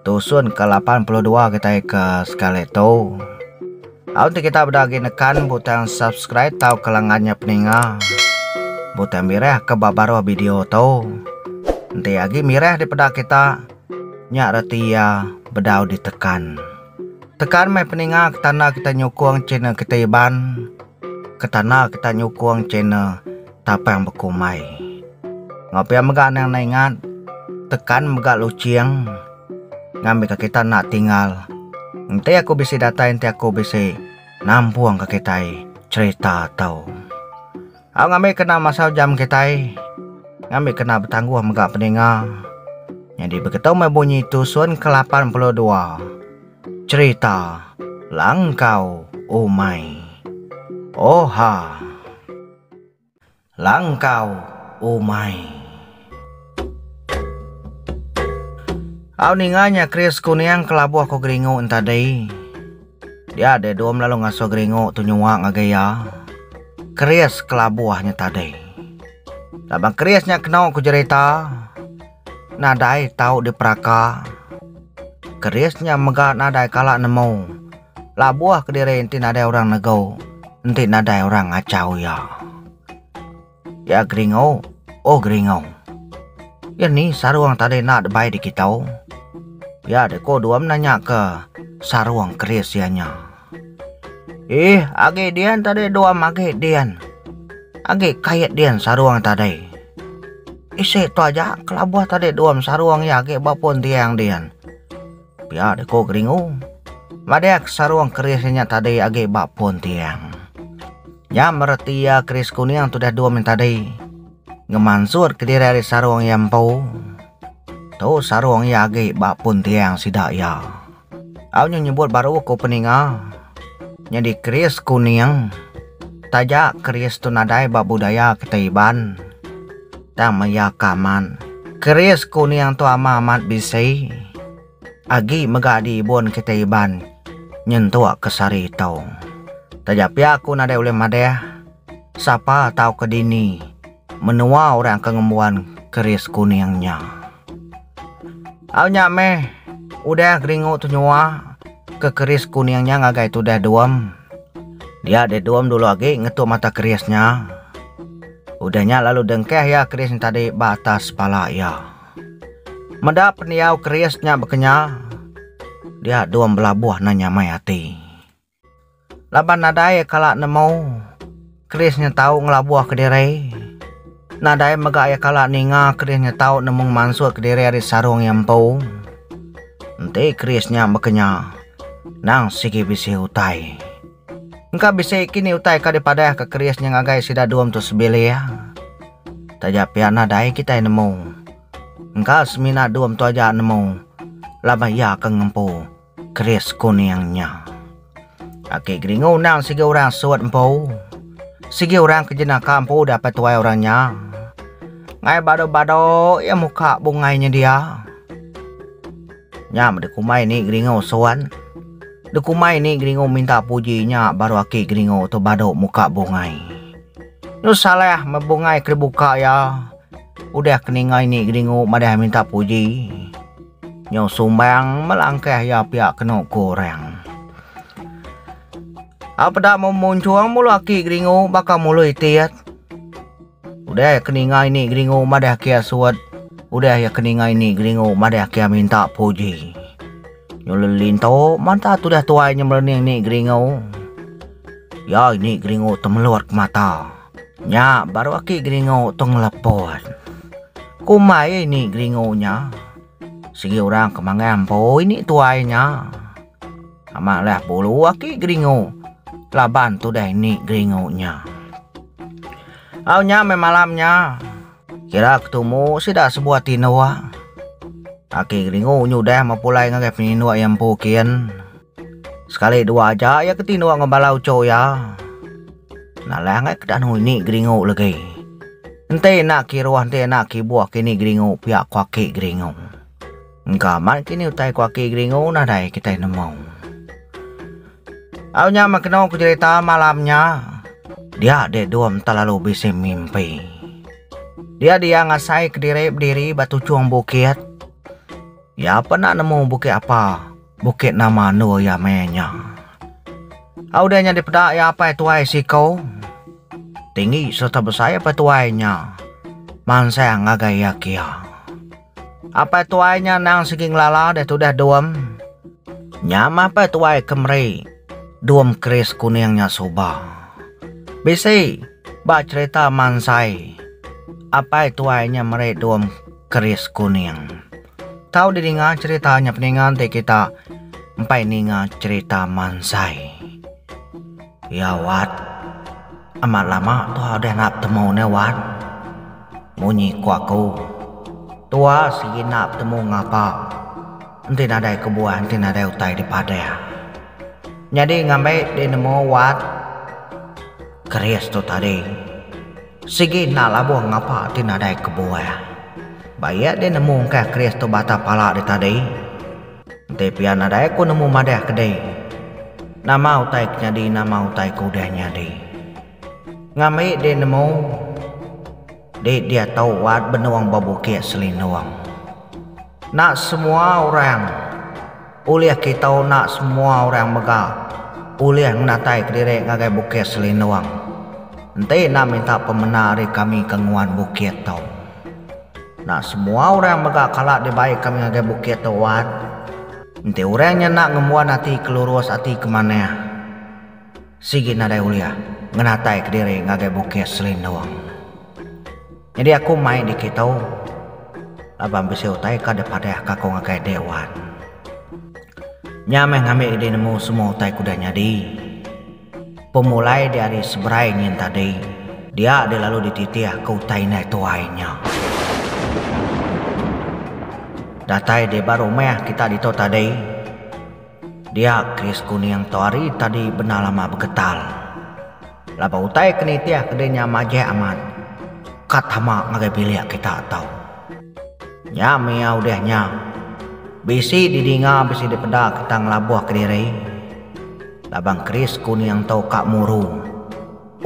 Tusun ke lapan puluh dua kitai ke sekali tu. Au enti kita beda agi nekan butang subscribe tauka lengan nya peninga. Butang mirah ke ba baruh video tu. Enti agi mirah dipeda kita, nya reti iya bedau ditekan. Tekan meh peninga ke tanda kita nyukung channel kita Iban. Ketana kita nyukung channel Tapang Bekumbai. Enggau pia mega anang enda ingat tekan mega luching ngambika kita enda tinggal. Enti aku bisi datai enti aku bisi nampungka kitai cherita tu. Au ngambi kena masa ujam kitai ngambi kena betangguh mega peninga. Nyadi begitu meh bunyi tusun ke lapan puluh dua. Cherita Langkau Umai Oha Langkau Umai. Au ninga nya Chris Kuning kelabuh ko Geringu en tadi. Dia deh dom lalu ngasoh Geringu tu nyuwa ngagai iya. Chris kelabuh nya tadi. Laban Chris nya keno ko jerita. Nadai tau diperaka. Keris nya mega nadai kala nemu. Labuh kediri enti nadai orang negu, enti nadai orang ngachau iya. Iya geringu, oh geringu. Iya ni sarung tadi enda dibai dikitu? Iya diku Duam nanyaka sarung keris iya nya. Ih, agi dian tadi dua magi dian. Agi kait dian sarung tadi. Isi tu aja kelabuh tadi dua sarung iya agi ba pun tiang dian. Pia deh ko Geringu. Madah ke sarung keris inya tadi agi ba pun tiang. Nya mereti iya keris kuning tu dah dua min tadi. Ngemansur ke diri ari sarung iya empu. Tu sarung iya agi ba pun tiang sida iya. Au nya nyebut baru aku peninga nyadi keris kuning taja keris tu nadai ba budaya kitai Iban tang maya ka amat keris kuning tu ama amat bisi agi mega di ibun kitai Iban nyentuk ke sehari ito taja pia aku nadai ulih madah sapa tau ke dini. Menua orang ke ngembuan keris kuning nya. Au nya meh udah geringu tu nyua ke keris kuning nya ngagai tudah Duem. Dia deh Duem dulu agi ngetu mata keris nya. Udah nya lalu dengkah iya keris nya tadi ba atas pala iya. Meda pendiau keris nya bekenya, dia Duem belabuh nanya mai ati. Laban nadai kala nemu Chris nyetau ngelabuh kediri. Nadai mega iya kala ninga Chris nyetau nemu ngemansut kediri ari sarung iya empu. Enti Chris nya bekenya, endang sigi bisi utai. Engka bisi kini utai ka dipadahka Chris nya ngagai sida dua mentua sebilik. Taja pia nadai kitai nemu. Engka semina dua mentua aja nemu laban iya ke ngempu. Keris kuning nya. Aki Geringu endang sigi orang sut empu. Sigi orang ke jenaka empu dapet tuai orang nya. Ngai badu-badu iya muka bungai nya dia. Nya meh dikumbai ni Geringu sut. Dikumbai ni Geringu minta puji nya baru aki Geringu tu badu muka bungai. Tu salah meh bungai ke dibuka iya. Udah ke ninga ini Geringu madah minta puji. Nyau sumbang melangkah iya pia kenu ku orang. A peda memunchung mulu aki geringu baka mulu itit. Udah ke ninga ini geringu madah kia suwet, udah iya ke ninga ini geringu madah kia minta puji. Nyau lelintu manta tudah tuai nyemerening ni geringu. Iya ini geringu temelut ke mata. Nya baru aki geringu tu ngelepon. Kumbai ai ni geringu nya. Sigi orang ke mangai amboi ni tuai nya. Amat leh bulu aki geringu laban tudah ini geringu nya. Au nya meh malam nya. Kira aku tumu sida sebuah ti enda uah. Aki Geringu nyudah mepulai ngagai penyinduk iya empu kin. Sekali dua aja iya ke tinduk enggau bala uchu iya. Nalah angai ke danu ini Geringu legi. Enti enda kiruh enti enda kibuh kini Geringu pia ku Aki Geringu. Engka amat ke ni utai ku aki Geringu nah dai kitai nemu. Au nya meh kenu ku jerita malam nya. Dia dek Dom telalu bisi mimpi. Dia dia ngasai kediri bediri ba tuchung bukit. Iya pena nemu bukit apa, bukit nama endur iya maya nya. Au dia nyadi peda iya apai tuai siko. Tinggi serta besai apai tuai nya. Mansang ngagai iya kia. Apai tuai nya endang sigi ngelala deh tudah dom. Nya mah apai tuai ke meri dom keris kuning nya suba. Bisi ba cherita mansai apai tuai nya meri dom keris kuning. Tau didinga cherita nya peninga enti kita empai ninga cherita mansai. Ya wat. Amat lama tua udah enda betemu nih wan. Munyi ku aku. Tua sigi enda betemu ngapa. Enti nadai kebuah enti nadai utai dipadah. Nyadi ngambi dih nemu wan. Keris tu tadi. Sigi enda labuh ngapa enti nadai kebuah. Ba iya dih nemu engkah keris tu batang pala dih tadi. Enti pia nadai aku nemu madah ke dei. Nama utai ke nyadi nama utai ke udah nyadi. Ngambi dek nemu dek diatu wat benung ba bukit selindung. Enda semua orang ulih kita enda semua orang mega ulih ngenatai ke diri ngagai bukit selindung. Enti enda minta pemena ari kami ke nguan bukit tu. Nah, semua orang mega kala dibai kami ngagai bukit tu, Wan. Enti orang nya enda ngembuan ati ke lurus ati ke manah, sigi nadai ulih ngenataika diri ngagai bukit Selindung. Nyadi aku mai di kitu laban bisi utai ka dipadahka aku ngagai dek Wan. Nya meh ngambi idi nemu semua utai ke udah nyadi. Pemulai diari seberai nyin tadi, dia dilalu dititih ke utai indai tuai nya. Datai di ba rumah kita ditu tadi, dia Chris Kuning tu hari tadi bendar lama begetal. Laban utai ke nitih ke dinya majak amat, ka tama ngagai bilik kita tu. Nya mih iya udah nya, bisi didinga bisi dipeda kita ngelabuh kediri. Labang keris ku niang tau ka murung.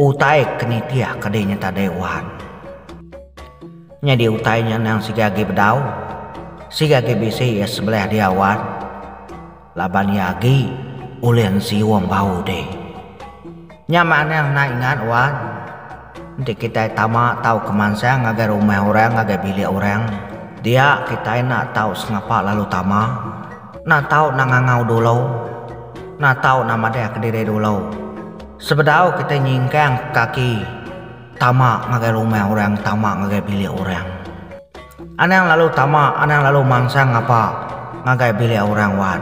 Utai ke nitih ke deh nyata deh wan. Nyadi utai nya endang siga agi bedau. Siga agi bisi iya sebelih dia wan. Laban iya agi ulih nsiung bau deh. Nya mah endang enda ingat wan. Enti kitai tama tau ke mansang ngagai rumah orang ngagai bilik orang. Dia kitai enda tau sengapa lalu tama. Enda tau enda ngangau dulu. Enda tau enda madahka diri dulu. Sebedau kitai nyingkang kaki tama ngagai rumah orang tama ngagai bilik orang. Anang lalu tama anang lalu mansang ngapa ngagai bilik orang wan.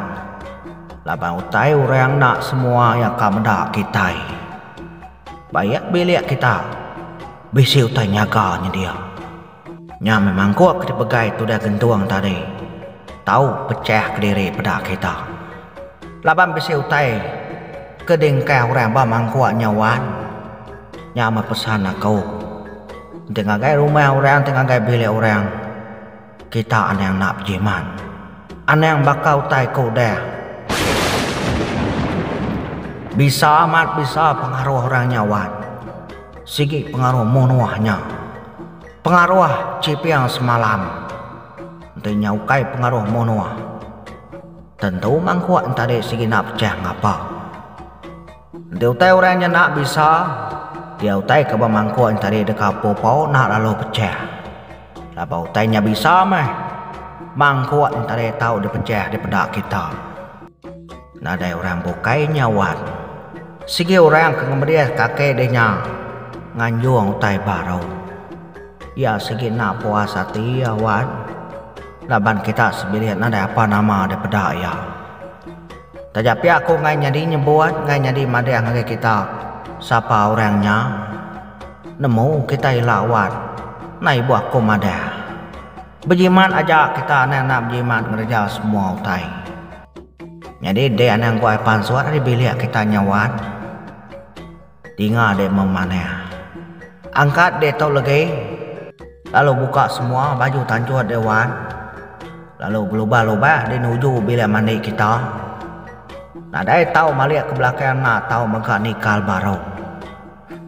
Laban utai orang enda semua iya ka meda kitai. Ba iya bilik kita bisi utai nyaga nyedia. Nya meh mangkuk ke dipegai tudah gentung tadi tau pechah kediri peda kita. Laban bisi utai ke diengkah orang ba mangkuk nya wan. Nya meh pesan aku. Enti ngagai rumah orang enti ngagai bilik orang kita anang enda bejimat. Anang baka utai ke udah bisa amat bisa pengaruh orang nya wan. Sigi pengaruh munuh nya. Pengaruh chiping semalam enti nya ukai pengaruh munuh tentu mangkuk enti ade sigi enda pechah ngapa. Enti utai orang nya enda bisa iya utai ke ba mangkuk enti ade deka pau-pau enda lalu pechah laban utai nya bisa meh mangkuk enti ade tau dipechah dipeda kita. Nadai orang bukai nya wan. Sigi orang ke ngemerih kaki deh nya nganjung utai baru. Iya sigi enda puas ati iya wan laban kita sebilik nadai apa nama dipeda iya. Taja pia aku ngai nyadi nyebut ngai nyadi madeh ngagai kita sapa orang nya nemu kita ila wan. Nai ibuh aku madeh. Bejimat aja kita anang enda bejimat ngereja semua utai. Nyadi dek anang gua ai pansut ari bilik kita nya wat. Dinga dek memanah. Angkat dek tu legi lalu buka semua baju tanjut dek wat lalu belubah-lubah di nuju bilik mandi kita. Nadai tau malik ke belakang enda tau mega nikal baru.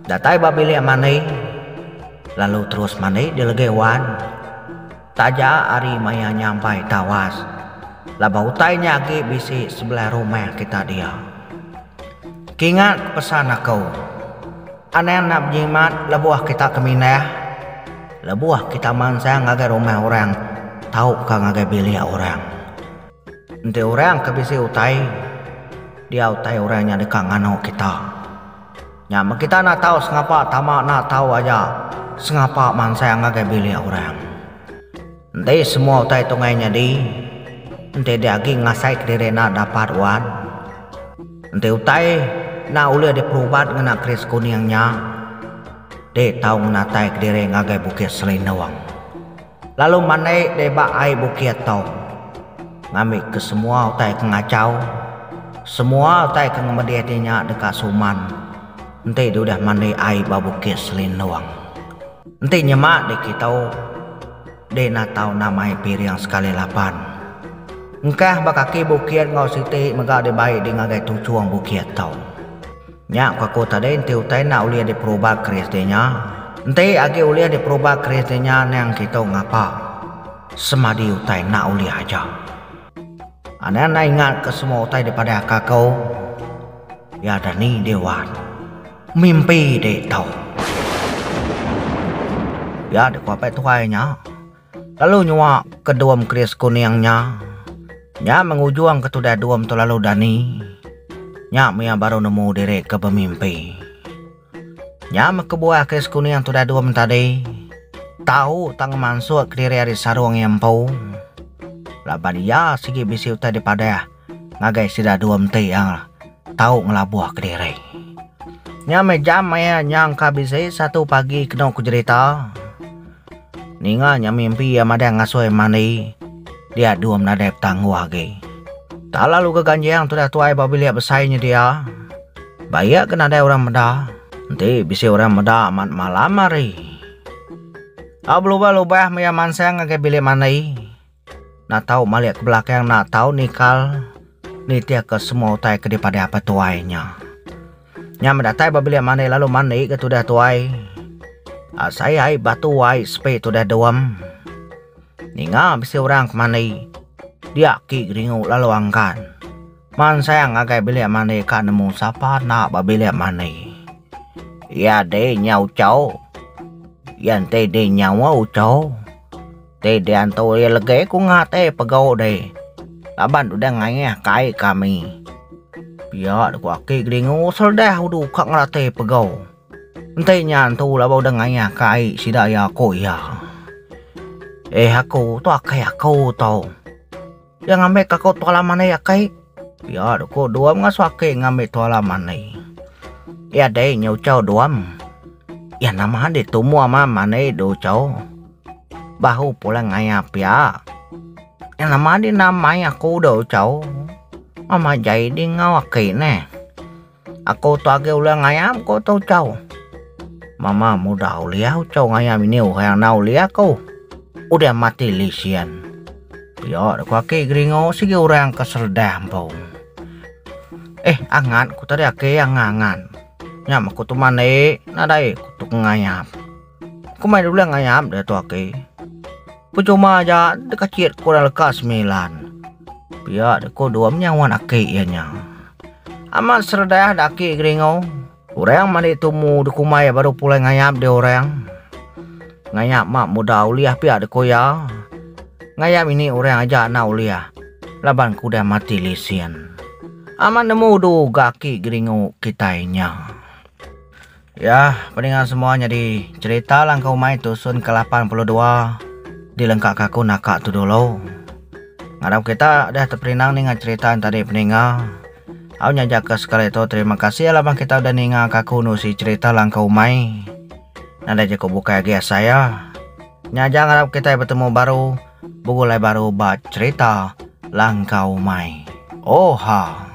Datai ba bilik mandi lalu terus mandi di legi wan. Taja ari maya nyampai tawas laban utai nya agi bisi sebelah rumah kita dia. Kingat pesan aku, anang enda bejimat lebuh kita ke mindah, lebuh kita mansang ngagai rumah orang tauka ngagai bilik orang. Enti orang ke bisi utai, dia utai orang nya deka nganu kita. Nya meh kita enda tau sengapa tama enda tau aja sengapa mansang ngagai bilik orang. Enti semua utai tu ngai nyadi, enti dia agi ngasai kediri enda dapat wan. Enti utai enda ulih diperubat ngena keris kuning nya, dek tau ngenatai kediri ngagai Bukit Selindung. Lalu mandai deh ba ai bukit tu. Ngambi ke semua utai ke ngachau. Semua utai ke ngemedih deh nya deka suman. Enti deh udah mandi ai ba bukit Selindung. Enti nyema deh kitu. Deh natau namai piring sekali lapan. Engkah ba kaki bukit enggau siti mega dibai deh ngagai tuchung bukit tu. Nya ku aku tadi enti utai enda ulih diperubah keris deh nya. Enti agi ulih diperubah keris deh nya nang kitu ngapa. Semadi utai enda ulih aja. Anang enda ingat ke semua utai dipadah ka aku. Ya dani deh wan. Mimpi deh tau. Ya deh ku apai tuai nya. Lalu nyuak ke dom keris kuning nya. Nya mengujung ke tudah dom tu lalu dani. Nya mia baru nemu diri ke bemimpi. Nya meh kebuah keris kuning tudah dom tadi. Tau tang ngemansuk diri ari sarung iya empu. Laban iya sigi bisi utai dipadah. ngagai sida dua menti iya tau ngelabuh kediri. Nya meh jam iya nyang ka bisi satu pagi kenu ku jerita ninga nya mimpi iya madang ngasoi mandi dia dua menadai petangguh agi. Tak lalu ke ganjing tudah tuai ba bilik besai nyedia ba iya ke nadai orang meda enti bisi orang meda amat malam hari. Au belubah-lubah meh iya mansang ngagai bilik mandi. Enda tau malik ke belakang enda tau nikal nitihka semua utai ke dipadah apai tuai nya. Nya meh datai ba bilik mandi lalu mandi ke tudah tuai um sai ai batu ai sepi tudah dom. Ninga bisi orang ke mandi dia agi geringu lalu anggan mansang ngagai bilik mandi ka nemu sapa enda ba bilik mandi. Iya deh nya ucho iya enti deh nya ucho. Ti diantu iya legi ku nya ti pegau deh laban udah ngayah kai kami. Pia ku aki Gelingu seredah udu ka ngelatih pegau. Enti nya antu laban udah ngayah kai sida iya ku iya. Eh aku tu akai aku tau. Iya ngambi ka ku Tuala Mani akai. Iya da ku Duam ngasuh aki ngambi Tuala Mani. Iya dei nya uchau Duam. Iya nama andi tumu ama Mani da uchaw. Bahu pulai ngaya pia. Iya nama andi nama mai aku da uchaw. Mama jai di enggau aki neh. Aku tu agi ulih ngayam ku tu ucau. Mama mudah ulih ucau ngayam ini uhai anau ulih aku. Udah mati lisian. Pia ku aki geringu sigi orang ke seredah empu. Eh angat ku tadi aki angan angan. Nyam aku tu mandi nadai ku tu ngayam. Ku mai dulu ngayap dia tu aki. Pecuma aja dekacit ku orang leka semilan. Pia deh ku dua menyau wan aki iya nya. Amat seredah deh aki Geringo. Orang mani tumu deh ku mai baru pulai ngayap dia orang. Ngayap mak muda ulih pia deh ku iya. Ngayap ini orang aja enda ulih laban ku udah mati lesen. Amat nemu du ga aki Geringo kitai nya. Ya, peninga semua nyadi cerita langkau umai tusun ke lapan puluh dua dilengka ka aku naka tu dulu. Ngarap kita dah teperinang ninga cerita nya tadi peninga. Au nya aja ke sekali tu terima kasih laban kita udah ninga ka aku nusi cerita langkau umai. Nadai jaku bukai agi asai iya. Nya aja ngarap kita betemu baru begulai baru ba cerita langkau umai. Oha.